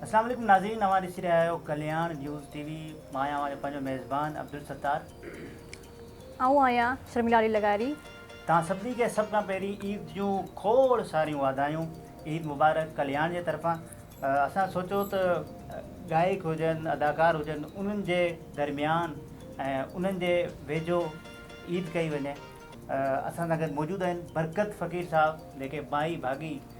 اسلام عليڪم ناظرين اوهان ڏسي رهيا آهيو ڪلياڻ نيوز ٽي وي مان آهيان اوهان جو پنهنجو ميزبان عبدالستار. آئون آهيان شرميلا علي لغاري. توهان سڀني کي سڀ کان پهرين عيد جون کوڙ ساريون واڌايون عيد مبارڪ ڪلياڻ جي طرفان اسان سوچيو ته گائڪ هجن اداڪار هجن انهن جي درميان ۽ انهن جي ويجهو عيد ڪئي وڃي اسان سان گڏ موجود آهن برڪت فقير صاحب جيڪي مائي ڀاڳي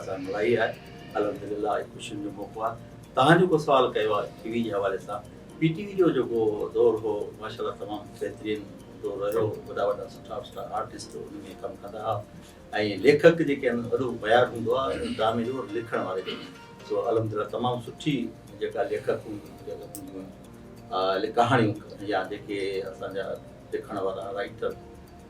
اسان ملائي آهي الحمدلله اڄ خوشين جو موقعو آهي توهان جيڪو سوال ڪيو آهي ٽي وي جي حوالي سان پي ٽي وي جو جيڪو دور هو ماشاءالله تمام بهترين دور رهيو وڏا وڏا سٺا سٺا آرٽسٽ ان ۾ ڪم ڪندا هئا ۽ ليکڪ جيڪي آهن وڏو معيار هوندو آهي ڊرامي جو لکڻ واري جو سو الحمدلله تمام سٺي جيڪا ليکڪ هونديون ڪهاڻيون يا جيڪي اسان جا لکڻ وارا رائٽر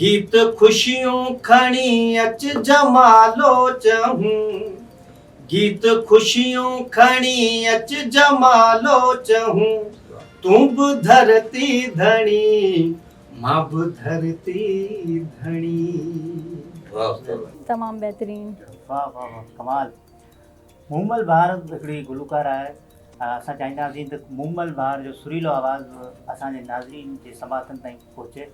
گيت خوشيون کڻي اچ جمالو چهون. گيت خوشيون کڻي اچ جمالو چهون. تون به ڌرتي ڌڻي مان به ڌرتي ڌڻي. تمام بهترين. واھ واھ واھ ڪمال مومل بهار هڪڙي گلوڪار آهي اسان چاهينداسين ته مومل بهار جو سريلو آواز اسان جي ناظرين جي سماعتن تائين پهچي.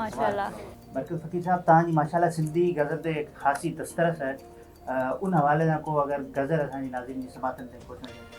ماشاءالله. ڊاڪٽر فقير صاحب توهان جي ماشاءالله سنڌي غزل تي هڪ خاصي دسترس آهي ان حوالي سان ڪو اگر غزل اسان جي ناظرين جي سماعتن تائين پهچڻ چاهيو.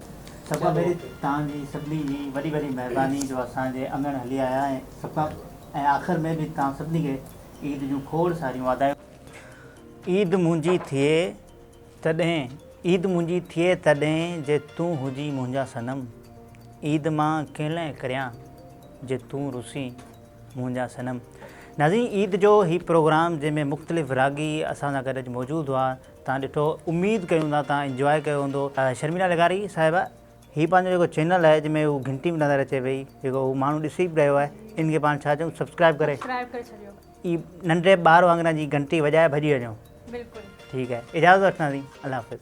سڀ کان پهرين توهان جي سڀني جي وڏي وڏي مهرباني جو اسان جي اڱڻ هلي آيا ۽ سڀ کان ۽ آخر ۾ به توهان سڀني کي عيد جون کوڙ ساريون واڌايون. عيد منهنجي ٿئي تڏهن عيد منهنجي ٿئي تڏهن جي تون هجين منهنجا صنم عيد مان ڪيلئن ڪريان جي تون رسين منهنجا صنم ناظرين عيد جو هي پروگرام جنهن ۾ مختلف راڳي اسان سان گڏ اڄ موجود هئا تان ڏٺو اميد ڪيون ٿا تان انجواء ڪيو هوندو. شرميلا لغاري صاحبه هي پنهنجو جيڪو چينل آهي جنهن ۾ هو گهنٽي به نظر اچي پئي جيڪو هو ماڻهو ڏسي به رهيو آهي ان کي پاڻ ڇا چئون سبسڪرائب ڪري اي ننڍڙي ٻار وانگر جي گهنٽي وڄائي ڀڄي وڃو ٺيڪ آهي اجازت وٺنداسين الله حافظ.